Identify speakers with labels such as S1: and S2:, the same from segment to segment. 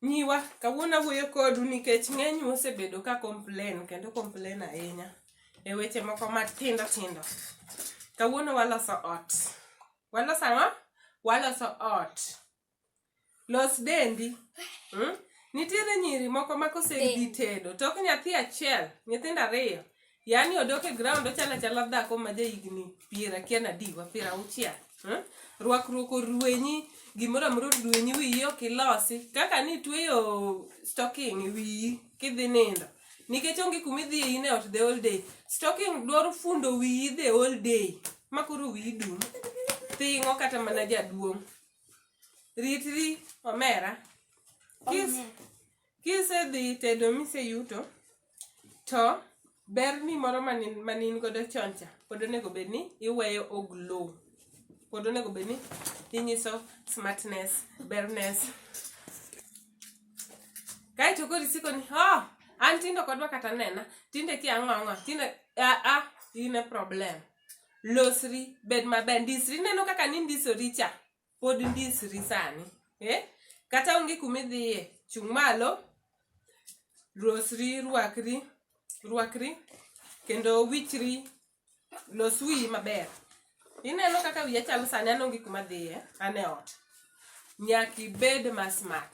S1: Nyiwa, kawuono awuoyo kodu nikech ng'eny osebedo ka complain kendo complain ahinya e weche moko matindo tindo. Kawuono waloso ot. Waloso ang'o? Waloso ot. Los dendi. Hmm? Nitiere nyiri moko ma kosedhi tedo, tok nyathi achiel, nyithindo ariyo, yani odok e ground ochalo achala dhako ma jahigni piero akia nadiwa piero auchiel hmm? rwakruok orwenyi gimoro amoro orwenyi wiyi ok ilosi kaka ni tweyo stocking e wiyi kidhi nindo nikech onge kuma idhi in e ot the whole day stocking dwaro fundo wiyi the whole day ma koro wiyi dum thing'o kata mana jaduong' ritri omera kisedhi tedo miseyuto to ber ni moro manin godo chon cha pod onego bed ni iweyo oglow pod onego bed ni inyiso smartness berness kaeto koro isiko ni oh, an tindo kodwa kata nena tinde ki ang'o ang'o tinde aa ah, ah, in a problem losri bed maber ndisri neno kaka nindisori cha pod ndisri sani eh? kata onge kumidhiye chung' malo losri rwakri rwakri kendo wichri los wiyi maber ineno kaka wiya chalo sani an onge kuma dhiye an e ot nyaka ibed ma smart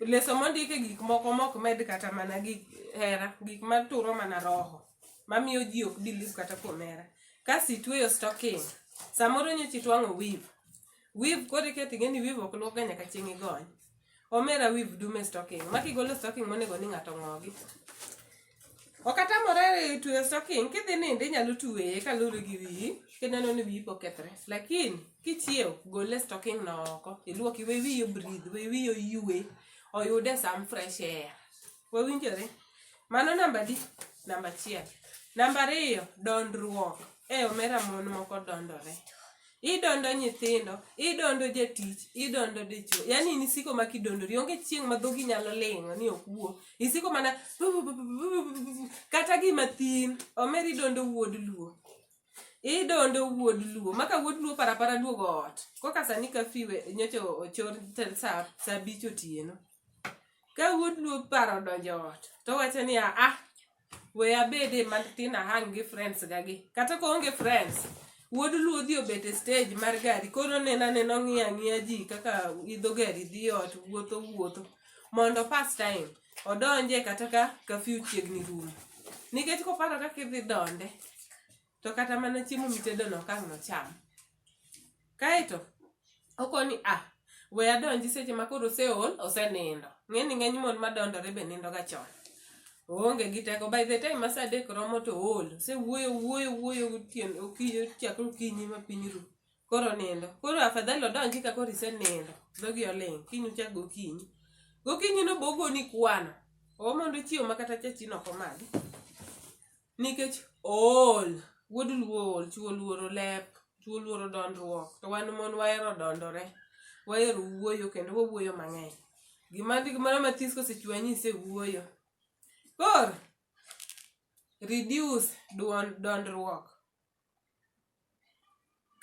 S1: leso mondike gik moko mok med kata mana gik hera gik maturo mana roho mamiyo ji ok biliv kata kuom hera kasi itweyo stocking samoro nyocha itwang'o wiv wiv koro iketo ing'eni wiv ok luokga nyaka chieng' igony omera wiv dume stocking makigolo stocking monego ni ng'ato ng'ogi ok atamore tweyo stocking kidhi nindo inyalo tweye kaluwore gi wiyi kineno ni wiyi pok kethre lakini kichiew gole stocking no oko iluoki we wiyi obridh we wiyi oyue oyude sam fresh air wawinjore mano namba di namba achiel namba ariyo dondruok e omera mon moko dondore idondo nyithindo idondo jatich idondo dichuo yani in isiko ma kidondori onge chieng' ma dhogi nyalo ling'o ni ok wuo isiko mana kata gima thin omer idondo wuod luo idondo wuod luo maka wuod luo parapara duogo ot koka sani kafiwe nyocha ochor sa abich otieno ka wuod luo paro donjo ot to wacho ni aa we abede matin ahang gi friends ga gi kata ka onge friends wuod luo dhi obet e stage mar gari koro nena nena ong'iya ng'iya ji kaka idho gari dhi ot wuotho wuotho mondo pass time odonje kata ka kafiu chiegni rumo nikech koparo kaka idhi donde to kata mana chiemo mitedono ok ang' nocham kaeto okoni a ah, we adonji seche ma koro oseol osenindo ng'e ni ng'eny mon madondore be nindo ga chon oonge gi teko by the time masa adek romo to ool se wuoyo wuoyo wuoyo gotieno okiyo chakre okinyi ma piny ru koro nindo koro afadhali odonji ka koro isenindo dhogi oling kiny uchak gokinyi gokinyi no bogoni kwano omondo chiwo ma kata chachino ok omadhi Nikech ool, wuod luo ool, chwo oluoro lep, chwo oluoro dondruok to wan mon wahero dondore, wahero wuoyo kendo wawuoyo mang'eny. Gima gimoro mathis kosechwanyi isewuoyo. Koro reduce dondruok.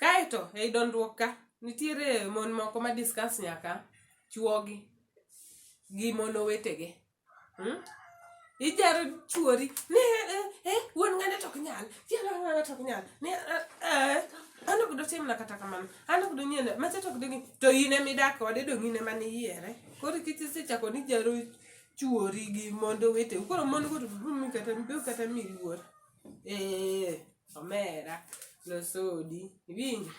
S1: Kaeto ei dondruok ka nitiere mon moko ma discuss nyaka chuogi gi mon owetegi. Mm? Ijaro chuori ni eh, eh, eh, wuon ng'ane to ok nyal, chiel ng'ane to ok nyal. Ni eh, eh, an ok dotimna kata kamano, an ok donyiena, macha to ok donyi. To in ema idak kode dong' in ema niyiere. Koro kik isechako ni ijaro chuori gi mond oweteu. Koro mon go to dum kata dum kata miyi luor. eh omera losodi iwinjo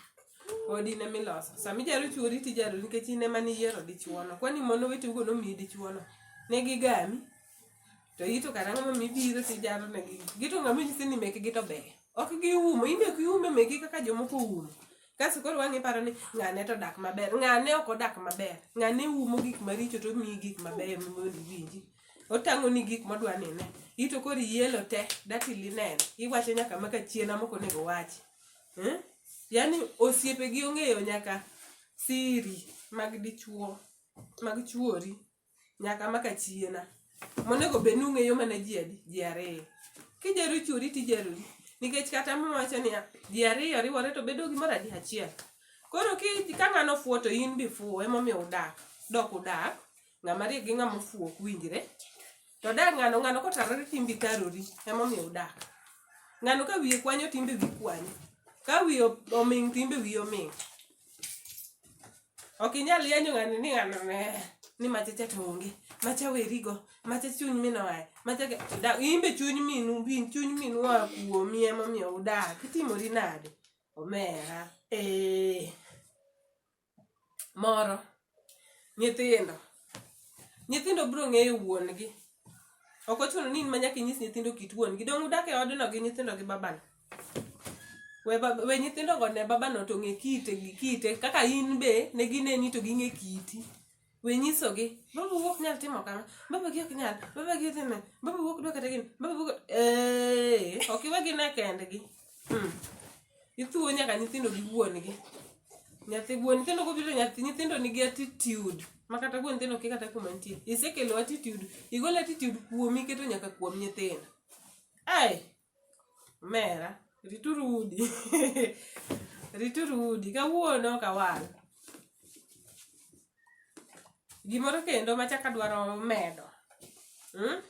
S1: odi ne miloso sama ijaro chuori tijaro nikech in ema niyiero dichuono kwani mon oweteugo nomiyi dichuono ne gigami to ito kata ng'ama mibiro tijaro ne gi- gito ng'ama nyisi ni mekgi to ber ok giumo in be ok iume mekgi kaka jomoko umo kaso koro wang'i paro ni ng'ane to dak maber ng'ane ok odak maber ng'ane umo gik maricho to miyi gik mabeyo mondo iwinji otang'oni gik modwa ni ine. In to koro ielo te dati lineno. Iwacho nyaka ma ka chien amok onego wachi. Eh? Yaani osiepe gi ong'eyo nyaka siri mag dichuo, mag chuori nyaka ma ka chiena. Monego bed ni ung'eyo mana ji adi? Ji ariyo. Kijaro chuori tijarori. Nikech kata mwawacho niya, ji ariyo riwore to bedo gimoro adi? Achiel. Koro ki ka ng'ano fuwo to in be ifuwo emomiyo udak. Dok udak ng'ama riek gi ng'ama ofuwo ok winjre to odak ng'ano ng'ano kotarore timbi karori emomiyo udak ng'ano ka wiye kwanyo timbe wi kwanyo ka wiye o- oming timbe wiye oming ok inyal yanyo ng'ani ni ng'ano ne ni machacha to onge macha werigo macha chuny min oaye macha ke- da- in be chuny minu bin chuny minu oa kuomi emomiyo udak itimori nade omera ee moro nyithindo nyithindo biro ng'eyo wuon gi ok ochuno ni in ma nyaka inyis nyithindo kit wuon gi dong' udak e odno gi nyithindo gi babano we, bab- we nyithindo go ne babano to ng'e kite gi kite kaka in be ne gineni to ging'e kiti we nyisogi baba wuok ok nyal timo kama baba gi ok nyal baba gi dhi me baba wuok dwa kata gini baba wuok ee ok iwe gi ne kendgi hmm. ithuwo nyaka nyithindo gi wuongi nyathi wuon nyithindo kobiro nyathi nyithindo nigi attitude ma kata wuon nyithindo ki kata kuma nitie isekelo attitude igolo attitude kuomi iketo nyaka kuom nyithindo ai Mera, rituru udi. rituru udi. Kawuono ok awal. Gimoro kendo machak adwaro medo. Hmm?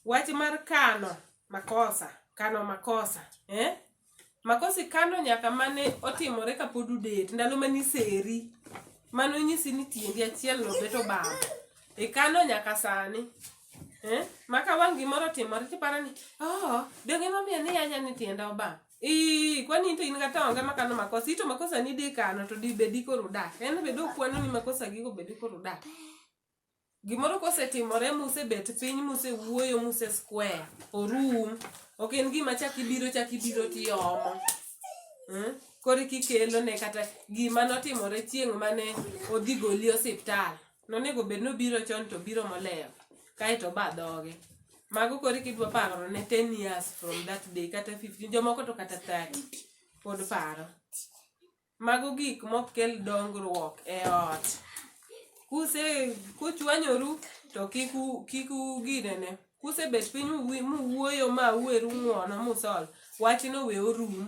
S1: Wach mar kano makosa, kano makosa, eh? Makosi kano nyaka mane otimore kapod udet, ndalo mane iseri. Mano nyisi ni tiendi achiel no beto bam. Ikano nyaka sani. Eh? Maka wang' gimoro timore tiparo ni, oh, donge momiyo ni yanya ni tienda obam. Ii, kwani into in kata onge makano makosa, ito makosa ni di kano to di bedi koro dak. En bedo kwano ni makosa gigo bedi koro dak. gimoro kosetimore musebet piny musewuoyo muse square orum ok en gima chak ibiro chak ibiro tiomo hmm? koro kikelo ne kata gima notimore chieng' mane odhi goli osiptal nonego bed nobiro chon to biro moleyo kaeto ba dhoge mago koro kidwa paro ne 10 years from that day kata 15 jomoko to kata 30 pod paro Mago gik mok kel dongruok e ot. Kuse kuchwanyoru to kik u kik uginene. Kusebet piny uwi- muwuoyo ma uweru ng'uono musol, wachno we orum.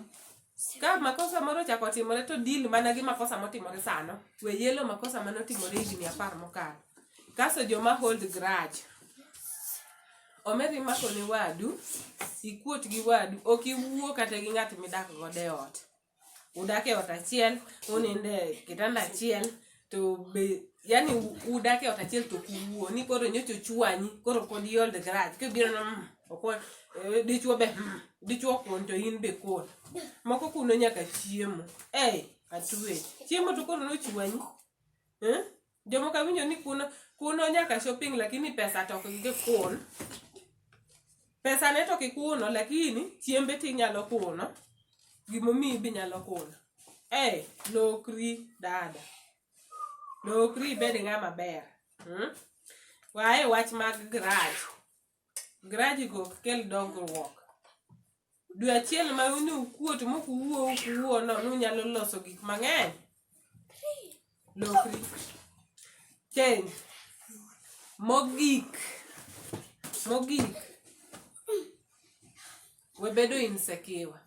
S1: Ka makosa moro ochako timore to deal mana gi makosa motimore sano. We yelo makosa mane otimore higni apar mokalo. Kaso joma hold grudge. Omeri mako ne wadu, ikuot gi wadu, ok iwuo kata gi ng'at midak godo e ot. udak e ot achiel to uninde kitanda achiel to be yani udak e ot achiel to kuwuo ni koro nyocha ochwanyi koro pod hold grudge kibiro na mm, okwa eh, dichwo be mm, dichwo kuon to in be kuon moko kuno nyaka chiemo ei atwe chiemo to koro nochwanyi eh? jomoko awinjo ni kuno kuno nyaka shopping lakini pesa to ok gikun pesa ne to kikuno lakini chiembe ti nyalo kuno gimomiyi be nyalo kuno hey, lokri dada lokri ibed ng'ama ber hmm? wae wach mag graj Grajigo ok kel dongruok. Dwe achiel ma uni ukuo to mok uwuo ok uwuo no nunyalo loso gik mang'eny. Lokri. Change. Mogik. Mogik. we bedo insekiwa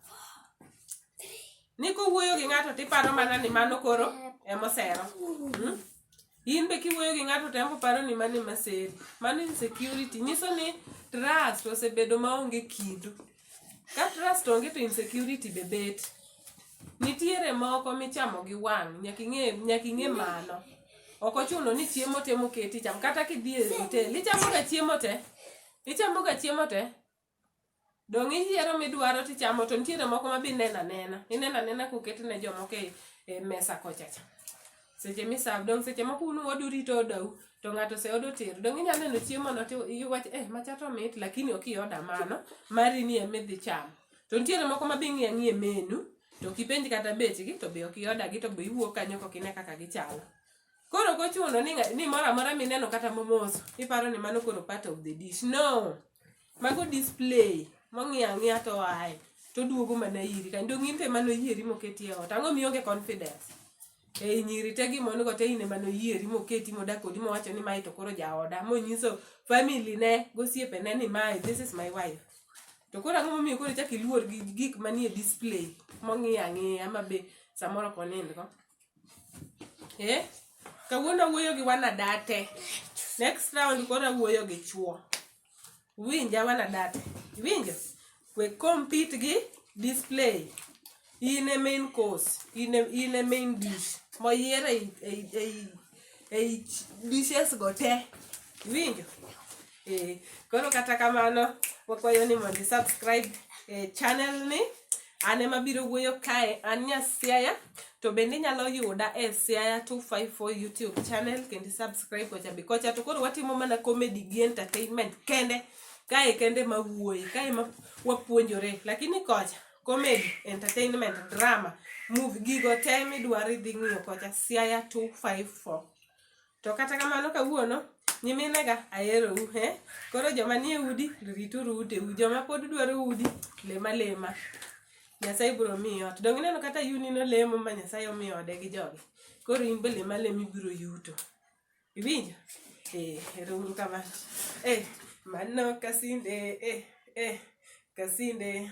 S1: ni kowuoyo gi ng'ato to iparo mana ni mano koro emosero hmm? in be kiwuoyo gi ng'ato tembo paro ni mano emaseri mano insecurity nyiso ni trust osebedo maonge kindu ka trust onge to insecurity be bet nitiere moko michamo gi wang' nyaka ing'e nyaka ing'e mano ok ochuno ni chiemo te moketi cham kata kidhi e hotel ichamoga chiemo te ichamoga chiemo te Donge iyiero midwaro tichamo to nitiere moko ma be ineno anena. Ineno anena koket ne jomoko e, e mesa kocha cha. Seche misav dong' seche moko unu odu rito odau to ng'ato ose odo ter. Dong' inyalo neno chiemo no to iwach eh macha to mit lakini ok ioda mano mari ni ema idhi chamo. To nitiere moko ma be ing'iyo ang'iya e menu to kipenj kata bechgi to be ok iodagi to be iwuok kanyo kok ine kaka gichalo. Koro ok ochuno ni, nga- ni moro amora mineno kata momoso iparo ni mano koro part of the dish. No. Mago display mong'iyo ang'iya to aye to duogo mana iri kani dong in to emano yieri moketi e ot. Ang'o mionge confidence? Ei nyiri te gimon go te in emano yieri moketi modak kodi mowacho ni mae to koro jaoda monyiso family ne gosiepe ne ni mae this is my wife. To koro ang'o momiyo koro ichak iluor gi gik manie display mong'iyo ang'iya ma be samoro ok onindgo. eh? kawuono awuoyo gi wanadate next round koro awuoyo gi chuo winja wanadate iwinjo we compete gi display in a main course in a, in a main dish moyier ei- ei- ei- ei dishes go te iwinjo Eh, koro kata kamano wakwayo ni mondo subscribe eh, channel ni an ema biro wuoyo kae an nya siaya to bende inyalo yuda e siaya 254 youtube channel kendo subscribe kocha be kocha to koro watimo mana comedy gi entertainment kende kae kende ma wuoyi kae ma wapuonjore lakini kocha comedy entertainment drama move gigo te midwaro idhi ng'iyo kocha siaya 254 to kata kamano kawuono nyiminega aherou he koro joma nie udi rituru uteu joma pod dwaro udi lema lema nyasaye biro miyi ot donge ineno kata yunino lemo ma nyasaye omiyo ode gi joge koro in be lema lema ibiro yuto iwinjo eh, ero uru kamano eh, mano kasinde eh, eh, kasinde